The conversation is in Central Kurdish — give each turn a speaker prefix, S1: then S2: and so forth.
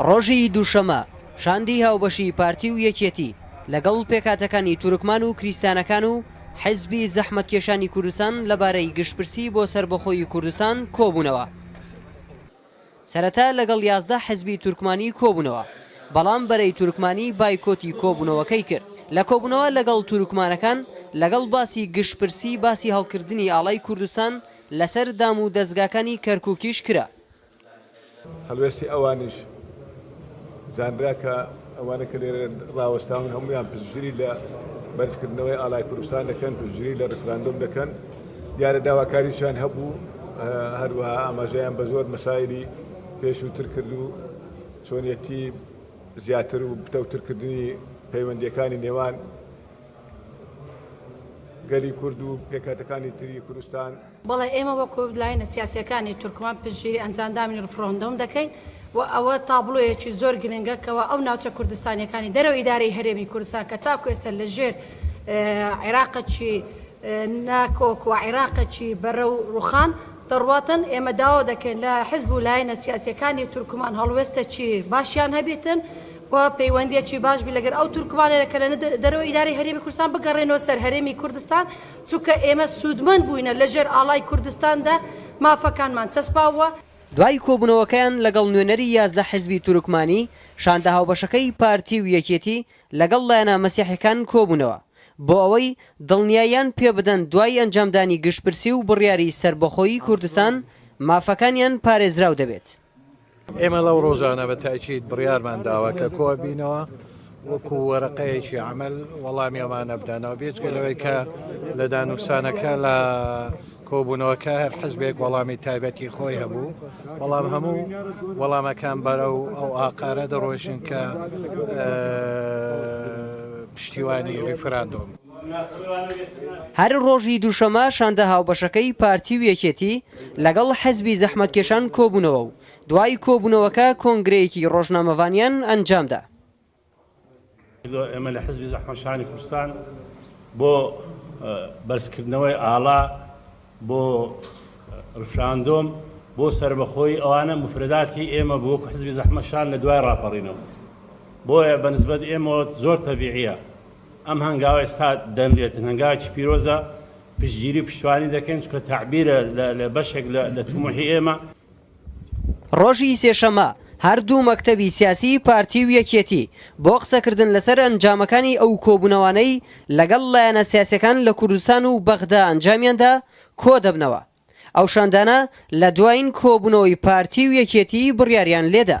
S1: ڕۆژی دووشەمە، شاندی هاوبەشی پارتی و یەکێتی لەگەڵ پێکهاتەکانی تورکمان و کریستانەکان و حیزبی زەحمەتکێشانی کوردستان لەبارەی گشتپرسی بۆ سەربەخۆیی کوردستان کۆبوونەوە. سەرەتا لەگەڵ یازدە حیزبی تورکمانی کۆبوونەوە، بەڵام بەرەی تورکمانی بایکۆتی کۆبوونەوەکەی کرد. لە کۆبوونەوە لەگەڵ تورکمانەکان لەگەڵ باسی گشتپرسی باسی هەڵکردنی ئاڵای کوردستان، لەسەر دام و دەزگاکانی کەرکوکیش کرا.
S2: هەڵوێستی ئەوانیش زانرا کە ئەوانەی کە لێرە ڕاوەستاون هەموویان پشتگیری لە بەرزکردنەوەی ئاڵای کوردستان دەکەن، پشتگیری لە ڕیفراندۆم دەکەن، دیارە داواکاریشیان هەبوو، هەروەها ئاماژەیان بە زۆر مەسایلی پێشووتر کرد و چۆنیەتی زیاتر و پتەوترکردنی پەیوەندییەکانی نێوان گەلی کورد و پێکهاتەکانی تری کوردستان. بەڵێ ئێمە وەکو
S3: لایەنە سیاسیەکانی تورکمان پشتگیری ئەنجاندامنی رفڕندۆم دەکەین و ئەوە تابڵۆیەکی زۆر گرنگە کەوا ئەو ناوچە کوردستانیەکانی دەرەوەی ئیدارەی هەرێمی کوردستان کە تاکو ئێستا لە ژێر عێراقەکی ناکۆک و عێراقەکی بەرەو روخان دەڕواتن ئێمە داوا دەکەین لە حزب و لایەنە سیاسیەکانی تورکمان هەڵوێستەکی باشیان هەبیتن و پەیوەندیەکی باش بی لەگەر ئەو تورکمانەنە کە لە دەرەوەی ئیدارەی هەرێمی کوردستان بگەڕێنەوە سەر هەرێمی کوردستان چونکە ئێمە سوودمەند بووینە لە ژێر ئاڵای کوردستان دا مافەکانمان چەسپاووە. دوای کۆبوونەوەکەیان
S1: لەگەڵ نوێنەری یازدە حزبی تورکمانی، شاندە هاوبەشەکەی پارتی و یەکێتی لەگەڵ لایەنە مەسیحیەکان کۆبوونەوە بۆ ئەوەی دڵنیاییان پێ بدەن دوای ئەنجامدانی گشتپرسی و بڕیاری سەربەخۆیی کوردستان مافەکانیان پارێزراو دەبێت. ئێمە
S4: لەو ڕۆژانە بە تاکیید بڕیارمان داوە کە کۆ بینەوە وەکو وەرەقەیەکی عمل وەڵامی ئەمانە بدەنەوە بێجگە لەوەی کە لە دانوستانەکە لە کۆبوونەوەکە هەر حزبێک وەڵامی تایبەتی خۆی هەبوو بەڵام هەموو وەڵامەکان بەرە و ئەو ئاقارە دەڕۆژین کە پشتیوانی ریفراندۆم.
S1: هەر ڕۆژی دووشەمە شاندە هاوبەشەکەی پارتی و یەکێتی لەگەڵ حزبی زەحمەتکێشان کۆبوونەوە و دوای کۆبوونەوەکە کۆنگرەیەکی ڕۆژنامەڤانیان ئەنجامدا.
S5: ئێمە لە حزبی زەحمەتکێشانی کوردستان بۆ بەرزکردنەوەی ئاڵا بۆ ڕفراندۆم بۆ سەربەخۆیی ئەوانە موفرەداتی ئێمە بوو وەکو حزبی زەحمەتکێشان لە دوای ڕاپەڕینەوە بۆیە بە نسبەت ئێمەوە زۆر تەبیعیە ئەم هەنگاوە ئێستا دەنرێتن هەنگاوێکی پیرۆزە پشتگیری و پشتوانی دەکەین چونکە تەعبیرە لە بەشێک لە توموحی ئێمە.
S1: ڕۆژی سێشەممە هەر دوو مەکتەبی سیاسیی پارتی و یەکێتی بۆ قسەکردن لەسەر ئەنجامەکانی ئەو کۆبوونەوانەی لەگەڵ لایەنە سیاسییەکان لە کوردستان و بەغدا ئەنجامیان دا کۆ دەبنەوە. ئەو شاندانە لە دوایین کۆبوونەوەی پارتی و یەکێتیی بڕیاریان لێ دا.